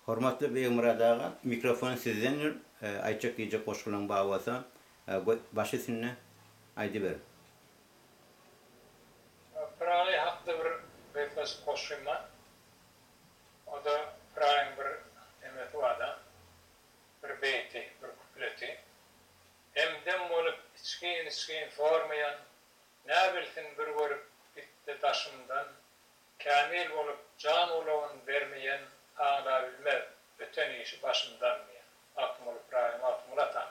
Hormatly Begmyrat aga mikrofon sizdendir aýtjak diýjek goşgylaň bar bolsa goý baş üstünde aýdyber. Pyragy hakda bir gysgaçyk goşgym bar. O-da Pyragyň bir nemesi bar-da, bir beýti, bir kupleti. Hem-dem bolup içgin-içgin sormaýan, näbilsin bir görüp gitdi daşymdan, Kämil bolup jan ulagyn bermeýen aňlabilmez biten işi başyndan diýen Magtymguly Ybraýym Magtymguly ataň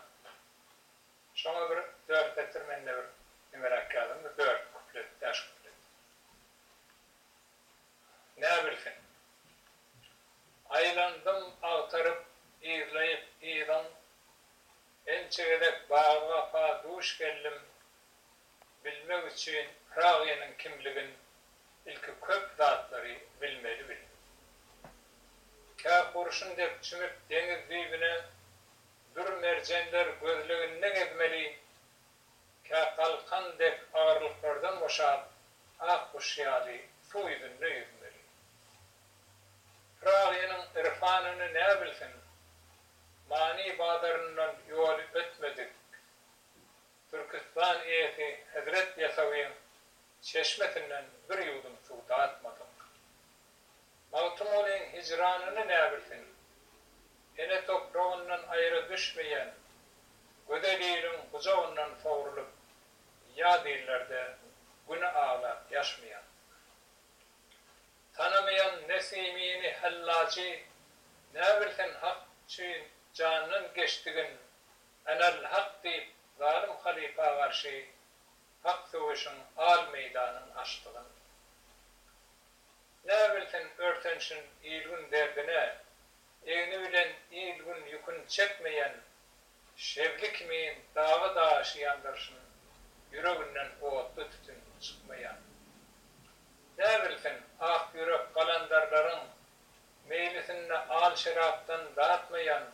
şoňa bir dört setir mende bir nimeräk ýazyň bir dört kuplet bäş kuplet näbilsin Aýlandym agtaryp yzlaýyp yzyň ençe gezek bagy wapa duş geldim bilmek üçin Pragynyň kimligin ilki köp zatlary bilmeli bildim. Kä hurşun dek çümüp deňiz düýbüne dür merjenler gözleginde gezmeli, kä galkan dek agyrlyklardan boşap ak guş ýaly suw ýüzünde ýüzmeli. Pragynyň irfanyny nä bilsin, many bazaryndan ýoly ötmedik, Türküstan eýesi Hezret Ýasawyň çeşmesinden bir ýuwdum suw datmadyk. Magtymgulyň hijranyny näbilsin. Ene topragyndan aýra düşmeýän gözel iliň gujagyndan sogrulyp ýaz illerde güni aglap ýaşmaýan. Tanamaýan Nesimini, Hellajy näbilsin hak üçin jandan geçdigin Enäl hak diýip zalym halypa garşy hak söweşiň al meýdanyn açdygyn. Näbilsin örtenşin il-gün derdine, egni bilen il-gün ýükün çekmeýän şebli kimin dagy daşy ýandyrşyn ýüreginden otly tütün çykmaýan. Näbilsin ak ýürek galandarlaryň meýlisinde al şerapdan datmaýan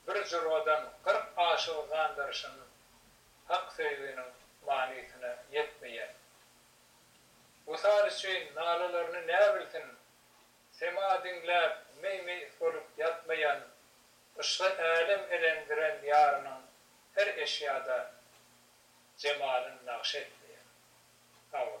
bir jurwadan gyrk aşyk yzandyryşyn hak söýginiň manysyna ýetmeýän. Wysal üçin nalalaryny nä bilsin, sema diňläp meý-meýis bolup ýatmaýan, yşga älem elendiren ýarynyň her eşýada jemalyn nagş etmeýän. Hawa.